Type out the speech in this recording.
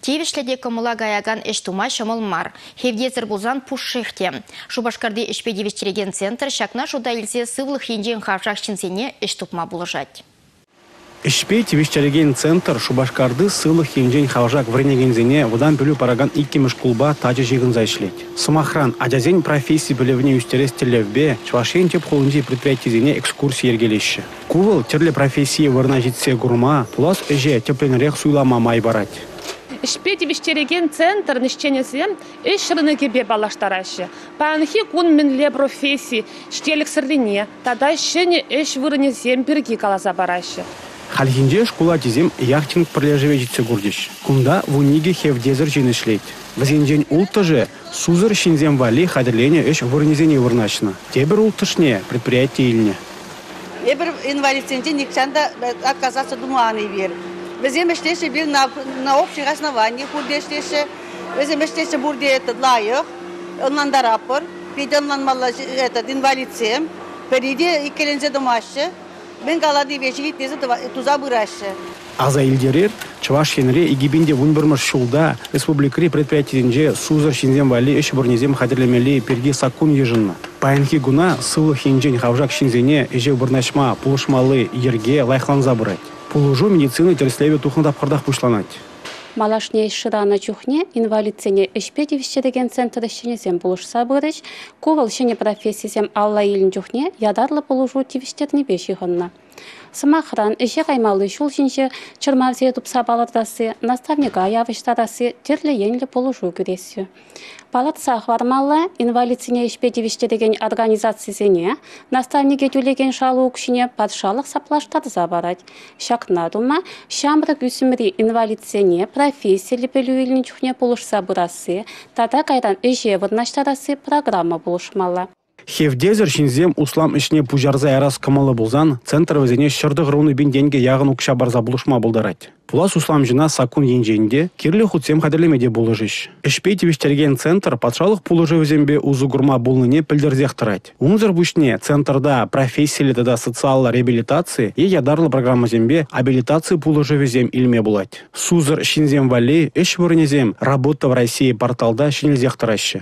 Тивӗҫлӗ те кӑмӑла каякан ӗҫ тума ҫӑмӑл мар. Хевтесӗр пулсан пушшех те. Шупашкарти ӗҫпе тивӗҫтерекен центр ҫакна шута илсе сывлӑх енчен хавшак ҫынсене ӗҫ тупма пулӑшать. Ӗҫпе тивӗҫтерекен центр Шупашкарти сывлӑх енчен хавшак вӗренекенсене вӑтам пӗлӳ паракан иккӗмӗш шкулпа тачӑ ҫыхӑнса ӗҫлет. Сӑмахран, ачасен професси пӗлӗвне ӳстерес тӗллевпе Чӑваш Ен тӗп хулинчи предприятисене экскурси йӗркелеҫҫӗ. Ку вӑл тӗрлӗ профессие вырӑна ҫитсе курма, пулас ӗҫе тӗплӗнрех суйлама май парать. Ӗҫпе тивӗҫтерекен центрӑн ӗҫченӗсем ӗҫ рынокӗпе паллаштараҫҫӗ, паянхи кун мӗнле професси ҫителӗксӗррине тата ҫӗнӗ ӗҫ вырӑнӗсем пирки каласа параҫҫӗ. Хальхинче шкул ачисем яхтинг пӗрлешӗве ҫитсе курчӗҫ. Кунта вун икӗ хевтесӗр ҫын ӗҫлет. Вӗсенчен улттӑшӗ Сусӑр ҫынсем валли хатӗрленӗ ӗҫ вырӑнӗсене вырнаҫнӑ. Тепӗр улттӑшне предприяти илнӗ. Эпир инвалидсенче нихҫан та отказаться тума ан илер. Вӗсем ӗҫлеҫҫӗ пир на, на общее разнование пурте ӗҫлеҫҫӗ. Вӗсем ӗҫлеҫҫӗ пурте это лайӑх, ӑнлантаратпӑр. Питӗ ӑнланмалла этот инвалидсем. Пӗри те иккӗленсе тӑмаҫҫӗ. Мӗн каланипе ҫивиттесе туса пыраҫҫӗ. Аса илтерер, Чӑваш Енре икӗпин те вун пӗрмӗш ҫулта республикӑри предприятисенче сусӑр ҫынсем валли ӗҫ вырӑнӗсем хатӗрлемелли пирки саккун йышӑннӑ. Паянхи куна сывлӑх енчен хавшак ҫынсене ӗҫе вырнаҫма пулӑшмалли йӗрке лайӑхланса пырать. Пулӑшу медицина тӗрӗслевӗ тухнӑ тапхӑртах пуҫланать. Малашне ӗҫ шыранӑ чухне инвалидсене ӗҫпе тивӗҫтерекен центр ӗҫченӗсем пулӑшса пырӗҫ. Ку вӑл ҫӗнӗ профессисем алла илнӗ чухне ятарлӑ пулӑшу тивӗҫтернипе ҫыхӑннӑ. Сӑмахран, ӗҫе каймалли ҫул ҫинче чӑрмавсене тупса палӑртасси, наставника явӑҫтарасси тӗрлӗ енлӗ пулӑшу кӳреҫҫӗ. Палӑртса хӑвармалла, инвалидсене ӗҫпе тивӗҫтерекен организацисене наставнике тӳлекен шалу укҫине патшалӑх саплаштарса парать. Ҫакна тума ҫамрӑк ӳсӗмри инвалидсене профессиллӗ пӗлӳ илнӗ чухне пулӑшса пырасси тата кайран ӗҫе вырнаҫтарасси программа пулӑшмалла. Хевтесӗр ҫынсем услам ӗҫне пуҫарса ярас кӑмӑллӑ пулсан центр вӗсене ҫӗр тӑхӑрвунӑ пин тенкӗ яхӑн укҫа парса пулӑшма пултарать. Пулас усламҫӑна саккун енчен те, кирлӗ хутсем хатӗрлеме те пулӑшӗҫ. Ӗҫпе тивӗҫтерген центр патшалӑх пулӑшӑвӗсемпе усӑ курма пулнине пӗлтерсех тӑрать. Унсӑр пуҫне центрта профессиллӗ тата социаллӑ реабилитаци е ятарлӑ программӑсемпе абилитаци пулӑшӑвӗсем илме пулать. Сусӑр ҫынсем валли ӗҫ вырӑнӗсем «Работа в России» порталта ҫӗнелсех тӑраҫҫӗ.